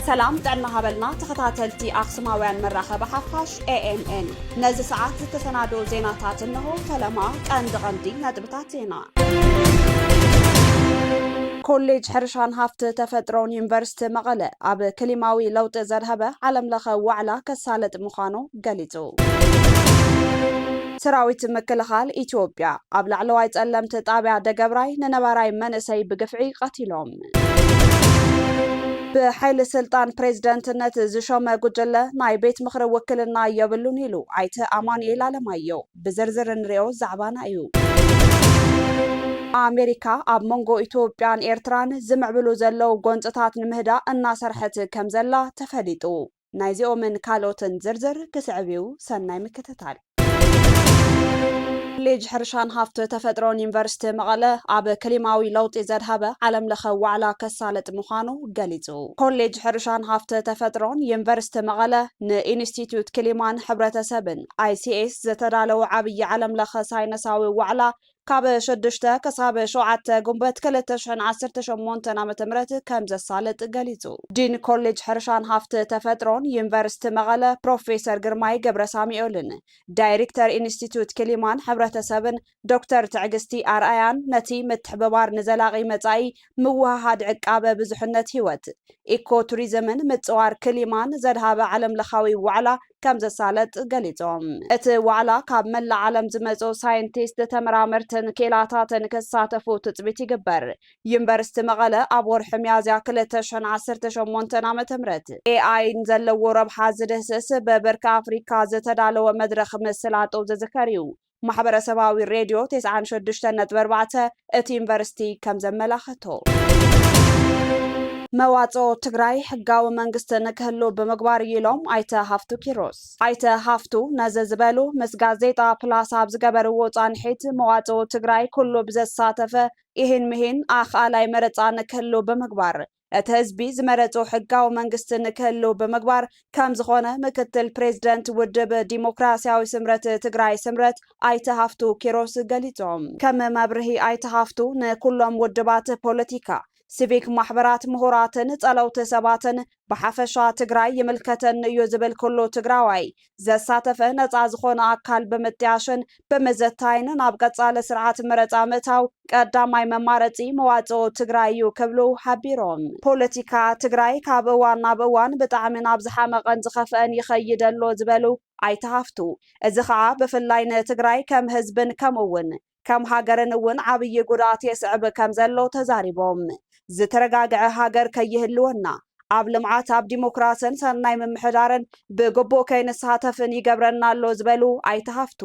ሰላም ጥዕና ሃበልና ተኸታተልቲ ኣክሱማውያን መራኸቢ ሓፋሽ ኤኤምኤን ነዚ ሰዓት ዝተሰናዶ ዜናታት እንሆ ፈለማ ቀንዲ ቀንዲ ነጥብታት ዜና ኮሌጅ ሕርሻን ሃፍቲ ተፈጥሮን ዩኒቨርሲቲ መቐለ ኣብ ክሊማዊ ለውጢ ዘድሀበ ዓለም ለኸ ዋዕላ ከሳልጥ ምዃኑ ገሊፁ። ሰራዊት ምክልኻል ኢትዮጵያ ኣብ ላዕለዋይ ፀለምቲ ጣብያ ደገብራይ ንነባራይ መንእሰይ ብግፍዒ ቐቲሎም። ብሓይሊ ስልጣን ፕሬዝደንትነት ዝሾመ ጉጅለ ናይ ቤት ምኽሪ ውክልና የብሉን ኢሉ ኣይተ ኣማኑኤል ኣለማየሁ። ብዝርዝር እንሪኦ ዛዕባና እዩ። ኣሜሪካ ኣብ መንጎ ኢትዮጵያን ኤርትራን ዝምዕብሉ ዘለው ጎንፅታት ንምህዳእ እናሰርሐት ከምዘላ ተፈሊጡ። ናይዚኦምን ካልኦትን ዝርዝር ክስዕብ እዩ፣ ሰናይ ምክትታል። ኮሌጅ ሕርሻን ሃፍቲ ተፈጥሮን ዩኒቨርሲቲ መቐለ ኣብ ክሊማዊ ለውጢ ዘድሃበ ዓለም ለኸ ዋዕላ ከሳልጥ ምዃኑ ገሊፁ። ኮሌጅ ሕርሻን ሃፍቲ ተፈጥሮን ዩኒቨርሲቲ መቐለ ንኢንስቲትዩት ክሊማን ሕብረተሰብን ICS፣ ዝተዳለወ ዓብዪ ዓለም ለኸ ሳይነሳዊ ዋዕላ ካብ ሽዱሽተ ክሳብ ሸውዓተ ግንቦት ክልተ ሽሕን ዓሰርተ ሸሞንተን ዓመተ ምህረት ከምዘሳልጥ ገሊፁ። ዲን ኮሌጅ ሕርሻን ሃፍቲ ተፈጥሮን ዩኒቨርሲቲ መቐለ ፕሮፌሰር ግርማይ ገብረሳሚኦልን ዳይሪክተር ኢንስቲትዩት ክሊማን ሕብረተሰብን ዶክተር ትዕግስቲ ኣርኣያን ነቲ ምትሕብባር ንዘላቒ መፃኢ ምውህሃድ ዕቃበ ብዙሕነት ህይወት፣ ኢኮ ቱሪዝምን ምፅዋር ክሊማን ዘድሃበ ዓለም ለኻዊ ዋዕላ ከምዘሳለጥ ገሊፆም። እቲ ዋዕላ ካብ መላእ ዓለም ዝመፅኡ ሳይንቲስት፣ ተመራመርትን ክኢላታትን ክሳተፉ ትፅቢት ይግበር። ዩኒቨርሲቲ መቐለ ኣብ ወርሒ ሚያዝያ ክልተ ሽሕን ዓሰርተ ሸሞንተን ዓ ም ኤኣይ ንዘለዎ ረብሓ ዝድህስስ ብብርኪ ኣፍሪካ ዝተዳለወ መድረኽ ምስላጡ ዝዝከር እዩ። ማሕበረሰባዊ ሬድዮ ቴስዓን ሸዱሽተን ነጥቢ ኣርባዕተ እቲ ዩኒቨርሲቲ ከምዘመላኸቶ። መዋፅኦ ትግራይ ሕጋዊ መንግስቲ ንክህሉ ብምግባር እዩ ኢሎም ኣይተ ሃፍቱ ኪሮስ። ኣይተ ሃፍቱ ነዚ ዝበሉ ምስ ጋዜጣ ፕላስ ኣብ ዝገበርዎ ፃንሒት መዋፅኦ ትግራይ ኩሉ ብዘሳተፈ ኢሂን ምሂን ኣኽኣላይ መረፃ ንክህሉ ብምግባር እቲ ህዝቢ ዝመረፆ ሕጋዊ መንግስቲ ንክህልው ብምግባር ከምዝኾነ ምክትል ፕሬዝደንት ውድብ ዲሞክራሲያዊ ስምረት ትግራይ ስምረት ኣይተ ሃፍቱ ኪሮስ ገሊፆም። ከም መብርሂ ኣይተ ሃፍቱ ንኩሎም ውድባት ፖለቲካ፣ ሲቪክ ማሕበራት፣ ምሁራትን ፀለውቲ ሰባትን ብሓፈሻ ትግራይ ይምልከተኒ እዩ ዝብል ኩሉ ትግራዋይ ዘሳተፈ ነፃ ዝኾነ ኣካል ብምጥያሽን ብምዘታይን ናብ ቀፃሊ ስርዓት መረፃ ምእታው ቀዳማይ መማረፂ መዋፅኦ ትግራይ እዩ ክብሉ ሓቢሮም። ፖለቲካ ትግራይ ካብ እዋን ናብ እዋን ብጣዕሚ ናብ ዝሓመቐን ዝኸፍአን ይኸይድ ኣሎ ዝበሉ ኣይተ ሃፍቱ፣ እዚ ከዓ ብፍላይ ንትግራይ ከም ህዝብን ከምኡ እውን ከም ሃገርን እውን ዓብዪ ጉድኣት የስዕብ ከም ዘሎ ተዛሪቦም። ዝተረጋግዐ ሃገር ከይህልወና፣ ኣብ ልምዓት፣ ኣብ ዲሞክራስን ሰናይ ምምሕዳርን ብግቡእ ከይንሳተፍን ይገብረና ኣሎ ዝበሉ ኣይተ ሃፍቱ፣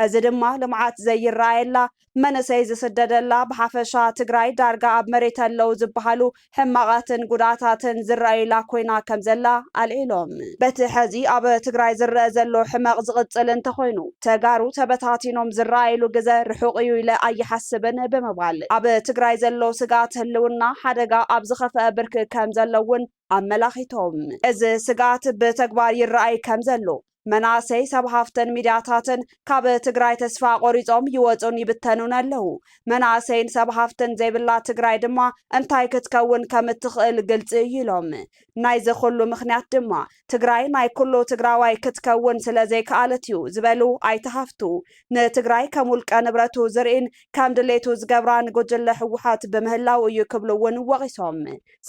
እዚ ድማ ልምዓት ዘይረኣየላ፣ መንእሰይ ዝስደደላ፣ ብሓፈሻ ትግራይ ዳርጋ ኣብ መሬት ኣለው ዝበሃሉ ሕማቓትን ጉድኣታትን ዝረኣዩላ ኮይና ከምዘላ ኣልዒሎም። በቲ ሐዚ ኣብ ትግራይ ዝረኣ ዘሎ ሕመቕ ዝቕፅል እንተኾይኑ ተጋሩ ተበታቲኖም ዝረኣዩሉ ግዘ ርሑቕ እዩ ኢለ ኣይሓስብን ብምባል ኣብ ትግራይ ዘሎ ስግኣት ህልውና ሓደጋ ኣብ ዝኸፈኣ ብርኪ ከምዘሎ እውን ኣመላኺቶም። እዚ ስግኣት ብተግባር ይረኣይ ከምዘሎ መናእሰይ ሰብ ሃፍትን ሚድያታትን ካብ ትግራይ ተስፋ ቆሪፆም ይወፁን ይብተኑን ኣለው። መናእሰይን ሰብ ሃፍትን ዘይብላ ትግራይ ድማ እንታይ ክትከውን ከም እትኽእል ግልፂ እዩ ኢሎም። ናይዚ ኩሉ ምኽንያት ድማ ትግራይ ናይ ኩሉ ትግራዋይ ክትከውን ስለዘይከኣለት እዩ ዝበሉ ኣይተ ሃፍቱ፣ ንትግራይ ከም ውልቀ ንብረቱ ዝርኢን ከም ድሌቱ ዝገብራን ጉጅለ ህወሓት ብምህላው እዩ ክብሉ እውን ወቒሶም።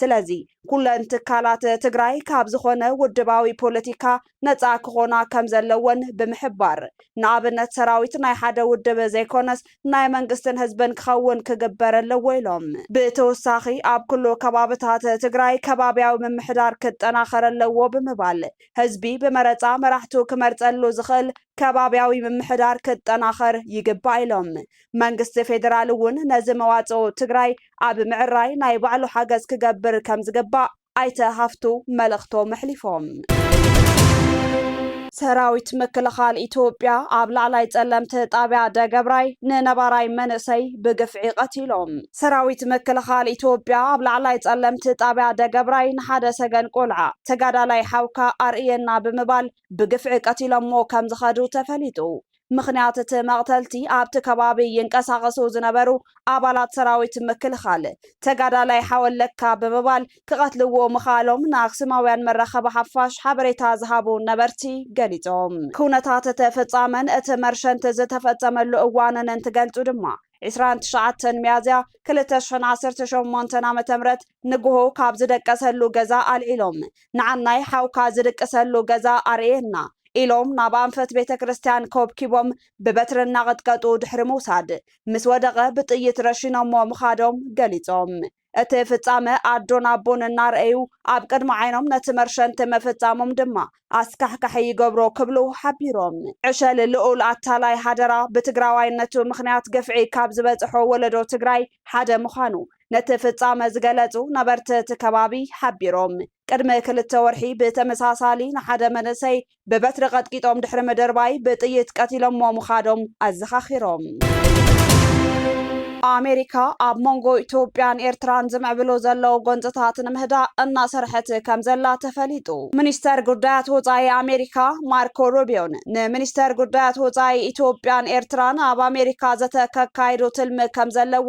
ስለዚ ኩለን ትካላት ትግራይ ካብ ዝኾነ ውድባዊ ፖለቲካ ነፃ ክኾና ከምዘለወን ብምሕባር፣ ንኣብነት ሰራዊት ናይ ሓደ ውድብ ዘይኮነስ ናይ መንግስትን ህዝብን ክኸውን ክግበር ኣለዎ ኢሎም። ብተወሳኺ ኣብ ኩሉ ከባብታት ትግራይ ከባብያዊ ምምሕዳር ክጠናኸር ኣለዎ ብምባል፣ ህዝቢ ብመረፃ መራሕቱ ክመርፀሉ ዝኽእል ከባብያዊ ምምሕዳር ክጠናኸር ይግባእ ኢሎም። መንግስቲ ፌዴራል እውን ነዚ መዋፅኦ ትግራይ ኣብ ምዕራይ ናይ ባዕሉ ሓገዝ ክገብር ከምዝግባእ ኣይተ ሃፍቱ መልእኽቶም ኣሕሊፎም። ሰራዊት ምክልኻል ኢትዮጵያ ኣብ ላዕላይ ጸለምቲ ጣብያ ደገብራይ ንነባራይ መንእሰይ ብግፍዒ ቀቲሎም። ሰራዊት ምክልኻል ኢትዮጵያ ኣብ ላዕላይ ጸለምቲ ጣብያ ደገብራይ ንሓደ ሰገን ቆልዓ ተጋዳላይ ሓውካ ኣርእየና ብምባል ብግፍዒ ቀቲሎሞ ከምዝኸዱ ተፈሊጡ። ምኽንያት እቲ መቕተልቲ ኣብቲ ከባቢ ይንቀሳቐሱ ዝነበሩ ኣባላት ሰራዊት ምክልኻል፣ ተጋዳላይ ሓወለካ ብምባል ክቐትልዎ ምኽኣሎም ንኣክሱማውያን መራኸቢ ሓፋሽ ሓበሬታ ዝሃቡ ነበርቲ ገሊጾም። ኩነታት እቲ ፍጻመን እቲ መርሸንቲ ዝተፈጸመሉ እዋንን እንትገልጹ ድማ፣ ዕስራን ትሽዓተን ሚያዝያ ክልተ ሽሕን ዓሰርተ ሸሞንተን ዓመተ ምህረት ንግሆ ካብ ዝደቀሰሉ ገዛ ኣልዒሎም ንዓናይ ሓውካ ዝድቅሰሉ ገዛ ኣርእየና ኢሎም ናብ ኣንፈት ቤተ ክርስቲያን ኮብኪቦም ብበትሪ እናቐጥቀጡ ድሕሪ ምውሳድ ምስ ወደቐ ብጥይት ረሺኖሞ ምኻዶም ገሊጾም። እቲ ፍጻመ ኣዶን ኣቦን እናረኣዩ ኣብ ቅድሚ ዓይኖም ነቲ መርሸንቲ ምፍጻሞም ድማ ኣስካሕካሒ ይገብሮ ክብሉ ሓቢሮም። ዕሸል ልኡል ኣታላይ ሃደራ ብትግራዋይነቱ ምኽንያት ግፍዒ ካብ ዝበጽሖ ወለዶ ትግራይ ሓደ ምዃኑ ነቲ ፍጻመ ዝገለጹ ነበርቲ እቲ ከባቢ ሓቢሮም። ቅድሚ ክልተ ወርሒ ብተመሳሳሊ ንሓደ መንእሰይ ብበትሪ ቐጥቂጦም ድሕሪ ምድርባይ ብጥይት ቀቲሎምዎ ምኻዶም ኣዘኻኺሮም። ኣሜሪካ ኣብ መንጎ ኢትዮጵያን ኤርትራን ዝምዕብሉ ዘለዉ ጎንፅታት ንምህዳእ እናሰርሐት ከምዘላ ተፈሊጡ። ሚኒስተር ጉዳያት ወፃኢ ኣሜሪካ ማርኮ ሩቢዮን ንሚኒስተር ጉዳያት ወፃኢ ኢትዮጵያን ኤርትራን ኣብ ኣሜሪካ ዘተ ከካይዱ ትልሚ ከምዘለዎ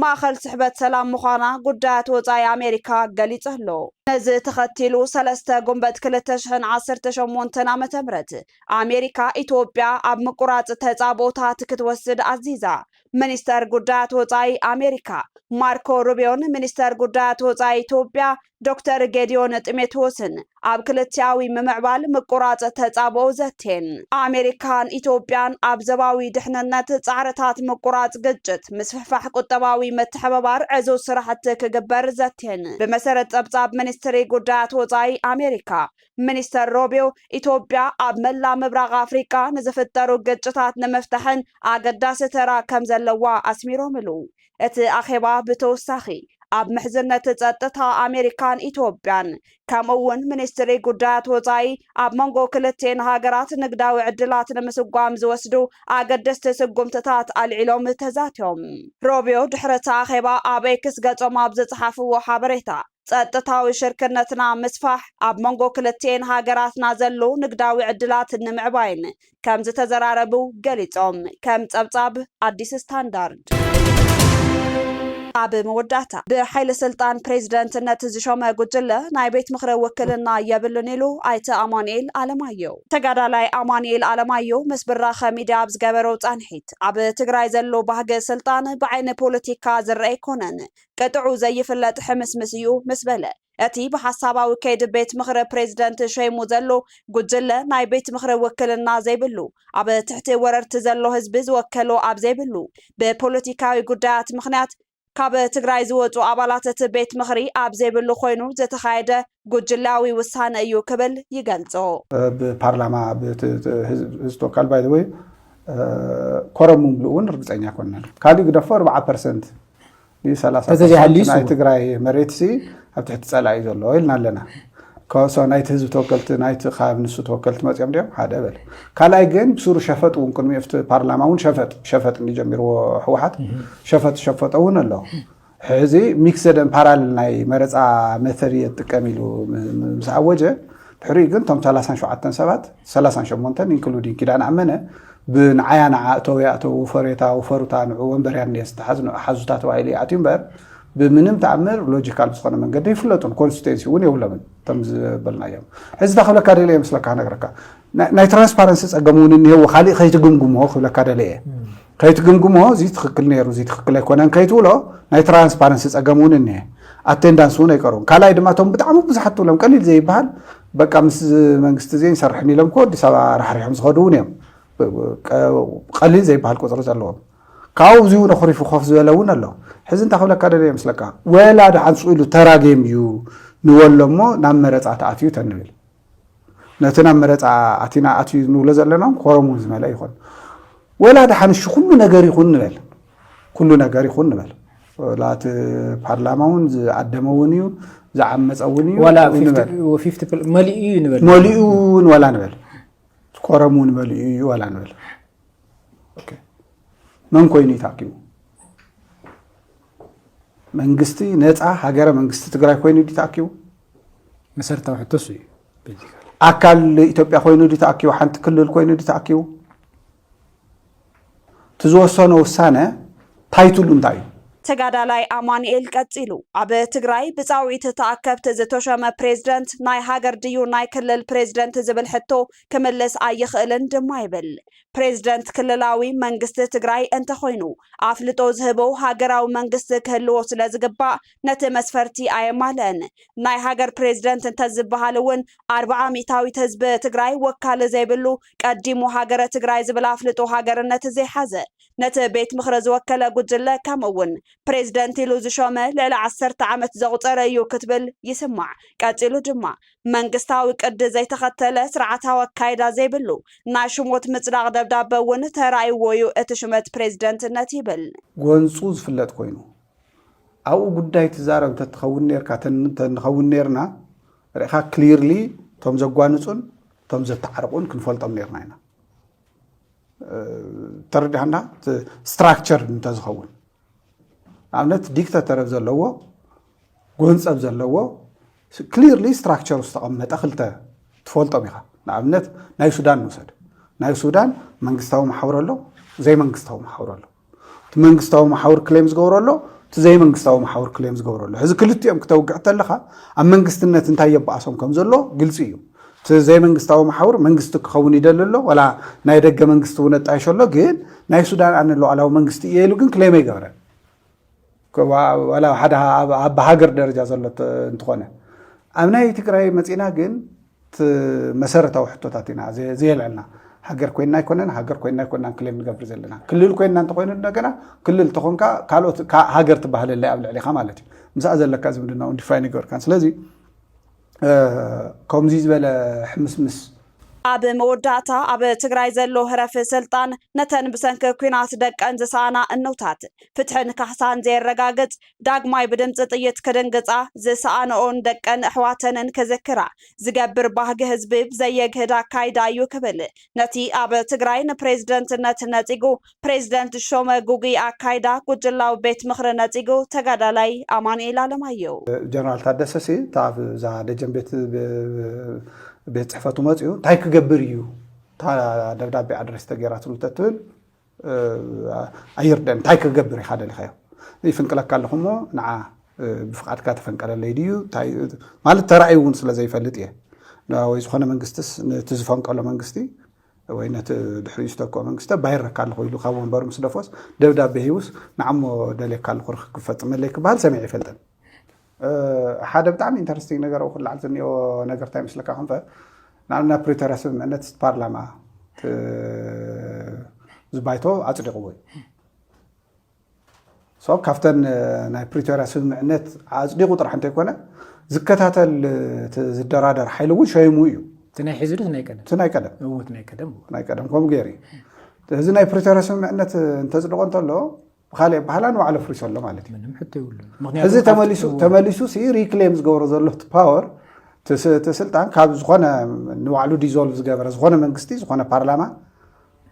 ማእኸል ስሕበት ሰላም ምዃና ጉዳያት ወፃኢ ኣሜሪካ ገሊፁ ኣሎ። ነዚ ተኸቲሉ ሰለስተ ጉንበት ክልተ ሽሕን ዓሰርተ ሸሞንተን ዓመተ ምህረት ኣሜሪካ ኢትዮጵያ ኣብ ምቁራፅ ተፃብኦታት ክትወስድ ኣዚዛ። ሚኒስተር ጉዳያት ወፃኢ ኣሜሪካ ማርኮ ሩቢዮን ሚኒስተር ጉዳያት ወፃኢ ኢትዮጵያ ዶክተር ጌድዮን ጢሞቴዎስን ኣብ ክልቲኣዊ ምምዕባል ምቁራጽ ተጻብኦ ዘቴን ኣሜሪካን ኢትዮጵያን ኣብ ዘባዊ ድሕንነት ጻዕርታት ምቁራጽ ግጭት፣ ምስፍሕፋሕ ቁጠባዊ ምትሕብባር ዕዙዝ ስራሕቲ ክግበር ዘቴን። ብመሰረት ጸብጻብ ሚኒስትሪ ጉዳያት ወጻኢ ኣሜሪካ፣ ሚኒስተር ሮቢዮ ኢትዮጵያ ኣብ መላእ ምብራቕ ኣፍሪቃ ንዝፍጠሩ ግጭታት ንምፍታሕን ኣገዳሲ ተራ ከምዘለዋ ኣስሚሮምሉ። እቲ ኣኼባ ብተወሳኺ ኣብ ምሕዝነት ጸጥታ ኣሜሪካን ኢትዮጵያን ከምኡ'ውን ሚኒስትሪ ጉዳያት ወጻኢ ኣብ መንጎ ክልቲኤን ሃገራት ንግዳዊ ዕድላት ንምስጓም ዝወስዱ ኣገደስቲ ስጉምትታት ኣልዒሎም ተዛትዮም። ሮቢዮ ድሕሪ እቲ ኣኼባ ኣብ ኤክስ ገጾም ኣብ ዝጸሓፍዎ ሓበሬታ፣ ጸጥታዊ ሽርክነትና ምስፋሕ፣ ኣብ መንጎ ክልቲኤን ሃገራትና ዘሎ ንግዳዊ ዕድላት ንምዕባይን ከምዝተዘራረቡ ገሊፆም። ከም ፀብፃብ ኣዲስ ስታንዳርድ። ኣብ መወዳእታ ብሓይሊ ስልጣን ፕሬዚደንትነት ዝሾመ ጉጅለ ናይ ቤት ምኽሪ ውክልና የብሉን ኢሉ ኣይተ ኣማኑኤል ኣለማየሁ። ተጋዳላይ ኣማኑኤል ኣለማየሁ ምስ ብራኸ ሚድያ ኣብ ዝገበሮ ፃንሒት፣ ኣብ ትግራይ ዘሎ ባህጊ ስልጣን ብዓይኒ ፖለቲካ ዝረኣ ኣይኮነን፣ ቅጥዑ ዘይፍለጥ ሕምስምስ እዩ ምስ በለ እቲ ብሓሳባዊ ከይዲ ቤት ምኽሪ ፕሬዚደንት ሸይሙ ዘሎ ጉጅለ ናይ ቤት ምኽሪ ውክልና ዘይብሉ፣ ኣብ ትሕቲ ወረርቲ ዘሎ ህዝቢ ዝወከሎ ኣብ ዘይብሉ፣ ብፖለቲካዊ ጉዳያት ምኽንያት ካብ ትግራይ ዝወፁ ኣባላት እቲ ቤት ምኽሪ ኣብ ዘይብሉ ኮይኑ ዝተኻየደ ጉጅልያዊ ውሳነ እዩ ክብል ይገልፆ። ኣብ ፓርላማ ኣብ ህዝቢ ተወካል ባይ ዘ ወይ ኮረም ምምልኡ እውን ርግፀኛ ኣይኮንናን። ካሊእ ግደፎ ኣርብዓ ፐርሰንት ናይ ትግራይ መሬት ኣብ ትሕቲ ፀላ እዩ ዘሎ ኢልና ኣለና ከሶ ናይቲ ህዝቢ ተወከልቲ ናይቲ ካብ ንሱ ተወከልቲ መፅኦም ድዮም ሓደ በል ካልኣይ ግን ብስሩ ሸፈጥ እውን ቅድሚ ኣብቲ ፓርላማ እውን ሸፈጥ ሸፈጥ ጀሚርዎ ህወሓት ሸፈጥ ሸፈጦ እውን ኣሎ ሕዚ ሚክሰደን ፓራል ናይ መረፃ መተሪ የጥቀም ኢሉ ምስ ኣወጀ ድሕሪኡ ግን እቶም ሰላሳን ሸውዓተን ሰባት ሰላሳን ሸሞንተን ኢንክሉዲንግ ኪዳነ ኣመነ ብንዓያ ንዓ እተው ያእተው ውፈሬታ ውፈሩታ ንዑ ወንበርያ እኒኤ ዝተሓዝ ንዑ ሓዙታ ተባሂሉ ይኣትዩ እምበር ብምንም ተኣምር ሎጂካል ብዝኾነ መንገዲ ይፍለጡን ኮንስቲቴንሲ እውን የብሎምን እቶም ዝበልናዮም ሕዚ እታ ክብለካ ደለ መስለካ ነገረካ ናይ ትራንስፓረንሲ ፀገም እውን እኒሄዎ ካሊእ ከይትግምግሞ ክብለካ ደለ እየ ከይትግምግሞ እዚ ትኽክል ነይሩ እዚ ትኽክል ኣይኮነን ከይትብሎ ናይ ትራንስፓረንሲ ጸገም እውን እኒሀ ኣቴንዳንስ እውን ኣይቀርቡን ካልኣይ ድማ እቶም ብጣዕሚ ብዙሓት ትብሎም ቀሊል ዘይበሃል በቃ ምስ መንግስቲ እዚ ይንሰርሕን ኢሎም ኮ ኣዲስ ኣበባ ራሕሪሖም ዝኸዱ እውን እዮም ቀሊል ዘይበሃል ቁፅሪ ዘለዎም ካብኡ እዚ እውን ኣኹሪፉ ኮፍ ዝበለ እውን ኣሎ ሕዚ እንታይ ክብለካ ደለየ ምስለካ ወላ ድሓን ስኢሉ ተራ ጌም እዩ ንበሎ እሞ ናብ መረፃ ተኣትዩ ተንብል ነቲ ናብ መረፃ ኣቲና ኣትዩ ንብሎ ዘለና እውን ኮረም እውን ዝመልአ ይኾን ወላ ድሓን እሺ ኩሉ ነገር ይኹን ንበል ኩሉ ነገር ይኹን ንበል ወላ እቲ ፓርላማ እውን ዝኣደመ እውን እዩ ዝዓመፀ እውን እዩ ዋላ ንበል 50 ፕል- መሊኡ እዩ ንበል መሊኡ እውን ወላ ንበል ኮረም እውን መሊኡ እዩ ወላ ንበል ኦኬ። መን ኮይኑ እዩ ተኣኪቡ መንግስቲ ነፃ ሃገረ መንግስቲ ትግራይ ኮይኑ ድዩ ተኣኪቡ መሰረታዊ ሕቶ እሱ እዩ። ኣካል ኢትዮጵያ ኮይኑ ድ ተኣኪቡ ሓንቲ ክልል ኮይኑ ድ ተኣኪቡ እቲ ዝወሰኖ ውሳነ ታይትሉ እንታይ እዩ? ተጋዳላይ ኣማኑኤል ቀጺሉ፣ ኣብ ትግራይ ብጻውዒት ተኣከብቲ ዝተሾመ ፕሬዝደንት ናይ ሃገር ድዩ ናይ ክልል ፕሬዝደንት ዝብል ሕቶ ክምልስ ኣይኽእልን ድማ ይብል። ፕሬዝደንት ክልላዊ መንግስቲ ትግራይ እንተኾይኑ ኣፍልጦ ዝህቦ ሃገራዊ መንግስቲ ክህልዎ ስለዝግባእ ነቲ መስፈርቲ ኣየማልእን። ናይ ሃገር ፕሬዚደንት እንተዝበሃል እውን ኣርብዓ ሚእታዊት ህዝቢ ትግራይ ወካሊ ዘይብሉ፣ ቀዲሙ ሃገረ ትግራይ ዝብል ኣፍልጦ ሃገርነት ዘይሓዘ፣ ነቲ ቤት ምኽሪ ዝወከለ ጉጅለ ከምኡ እውን ፕሬዚደንት ኢሉ ዝሾመ ልዕሊ ዓሰርተ ዓመት ዘቑፀረ እዩ ክትብል ይስማዕ። ቀፂሉ ድማ መንግስታዊ ቅዲ ዘይተኸተለ፣ ስርዓታዊ ኣካይዳ ዘይብሉ ናይ ሹሞት ምፅዳቕ ደብዳበ እውን ተራእይዎ እዩ እቲ ሹመት ፕሬዚደንትነት ይብል። ጎንፁ ዝፍለጥ ኮይኑ ኣብኡ ጉዳይ ትዛረብ እንተትኸውን ነርካ ንኸውን ነርና ርኢኻ ክሊርሊ እቶም ዘጓንፁን እቶም ዘተዓርቑን ክንፈልጦም ነርና ኢና ተረዳህና ስትራክቸር እንተዝኸውን ንኣብነት ዲክተተር ዘለዎ ጎንፀብ ዘለዎ ክሊርሊ ስትራክቸር ዝተቐመጠ ክልተ ትፈልጦም ኢኻ ንኣብነት ናይ ሱዳን ንውሰድ ናይ ሱዳን መንግስታዊ ማሕበረ ኣሎ ዘይመንግስታዊ ማሕበረ ኣሎ እቲ መንግስታዊ መሓውር ክሌም ዝገብሮ ኣሎ እቲ ዘይመንግስታዊ መሓውር ክሌም ዝገብሮ ኣሎ ሕዚ ክልቲኦም ክተውግዕ ተለኻ ኣብ መንግስትነት እንታይ የባኣሶም ከም ዘሎ ግልፂ እዩ እቲ ዘይመንግስታዊ መሓውር መንግስቲ ክኸውን ይደሊ ኣሎ ወላ ናይ ደገ መንግስቲ እውን ኣጣይሾ ኣሎ ግን ናይ ሱዳን ኣነ ሉዓላዊ መንግስቲ እየ ኢሉ ግን ክሌም ኣይገበረን ዋላ ሓደ ኣብ ሃገር ደረጃ ዘሎ እንትኾነ ኣብ ናይ ትግራይ መፂና ግን መሰረታዊ ሕቶታት ኢና ዘየልዕልና ሃገር ኮይና ኣይኮነን ሃገር ኮይና ኣይኮናን ክሌም ንገብር ዘለና ክልል ኮይና እንተኮይኑ እንደገና ክልል ተኾንካ ካልኦት ሃገር ትባሃለለይ ኣብ ልዕሊካ ማለት እዩ ምስኣ ዘለካ ዝምድናውን ዲፋይን ይገበርካን ስለዚ ከምዙይ ዝበለ ሕምስምስ ኣብ መወዳእታ ኣብ ትግራይ ዘሎ ህረፊ ስልጣን ነተን ብሰንኪ ኩናት ደቀን ዝሰኣና እኖታት ፍትሕን ካሕሳን ዘየረጋግፅ ዳግማይ ብድምፂ ጥይት ክድንግፃ ዝሰኣነኦን ደቀን ኣሕዋተንን ክዝክራ ዝገብር ባህጊ ህዝቢ ብዘየግህድ ኣካይዳ እዩ ክብል ነቲ ኣብ ትግራይ ንፕሬዝደንትነት ነፂጉ ፕሬዝደንት ሾመ ጉጉይ ኣካይዳ ጉጅላዊ ቤት ምኽሪ ነጺጉ፣ ተጋዳላይ ኣማኑኤል ኣለማየሁ። ጀነራል ታደሰሲ እታ ኣብዛ ደጀን ቤት ቤት ፅሕፈቱ መፅኡ እንታይ ክገብር እዩ እታ ደብዳቤ ኣድሬስ ተገይራትሉ ተትብል ኣይርደን እንታይ ክገብር ኢኻ ደሊኻዮ ይፍንቅለካ ኣለኹ እሞ ንዓ ብፍቃድካ ተፈንቀለለይ ድዩ ማለት ተራእዩ እውን ስለ ዘይፈልጥ እየ ወይ ዝኾነ መንግስትስ ነቲ ዝፈንቀሎ መንግስቲ ወይ ነቲ ድሕሪኡ ዝተክኦ መንግስተ ባይረካ ኣለኹ ኢሉ ካብ ወንበሩ ምስ ደፎስ ደብዳቤ ሂቡስ ንዓሞ ደልየካ ኣለኹ ርክብ ክፈፅመለይ ክበሃል ሰሚዐ ይፈልጥን ሓደ ብጣዕሚ ኢንተረስቲንግ ነገር ኣብኡ ክለዓል ዝኒኦ ነገር እንታይ ይመስለካ ክንፈ ንኣብነት ናብ ፕሪቶርያ ስምምዕነት ፓርላማ ዝባይቶ ኣፅዲቕዎ እዩ ሶ ካብተን ናይ ፕሪቶርያ ስምምዕነት ኣፅዲቑ ጥራሕ እንተይኮነ ዝከታተል ዝደራደር ሓይሊ እውን ሸይሙ እዩ እቲ ናይ ሕዚ ዶስ ናይ ቀደም እቲ ናይ ቀደም እውት ናይ ቀደም ናይ ቀደም ከምኡ ገይሩ እዩ እዚ ናይ ፕሪቶርያ ስምምዕነት እንተፅድቆ እንተሎ ብካልእ ኣባህላ ንባዕሉ ኣፍሪሶ ኣሎ ማለት እዩ ምንም ሕቶ ይብሉ እዚ ተመሊሱ ተመሊሱ ሲ ሪክሌም ዝገብሮ ዘሎ እቲ ፓወር እቲ ስልጣን ካብ ዝኾነ ንባዕሉ ዲዞልቭ ዝገበረ ዝኾነ መንግስቲ ዝኾነ ፓርላማ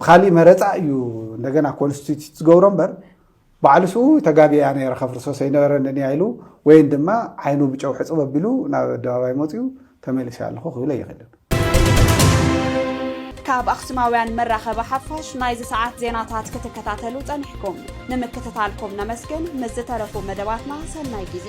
ብካሊእ መረፃ እዩ እንደገና ኮንስቲቱት ዝገብሮ እምበር ባዕሉ ስኡ ተጋቢያ ነረ ከፍርሶ ሰይነበረኒ እኒያ ኢሉ ወይን ድማ ዓይኑ ብጨው ሕፅብ ኣቢሉ ናብ ኣደባባይ መፅኡ ተመሊሰ ኣለኹ ክብለ ይኽእል ካብ ኣኽሱማውያን መራኸቢ ሓፋሽ ናይዚ ሰዓት ዜናታት ክትከታተሉ ጸኒሕኩም ንምክትታልኩም ነመስግን ምስ ዝተረፉ መደባትና ሰናይ ግዜ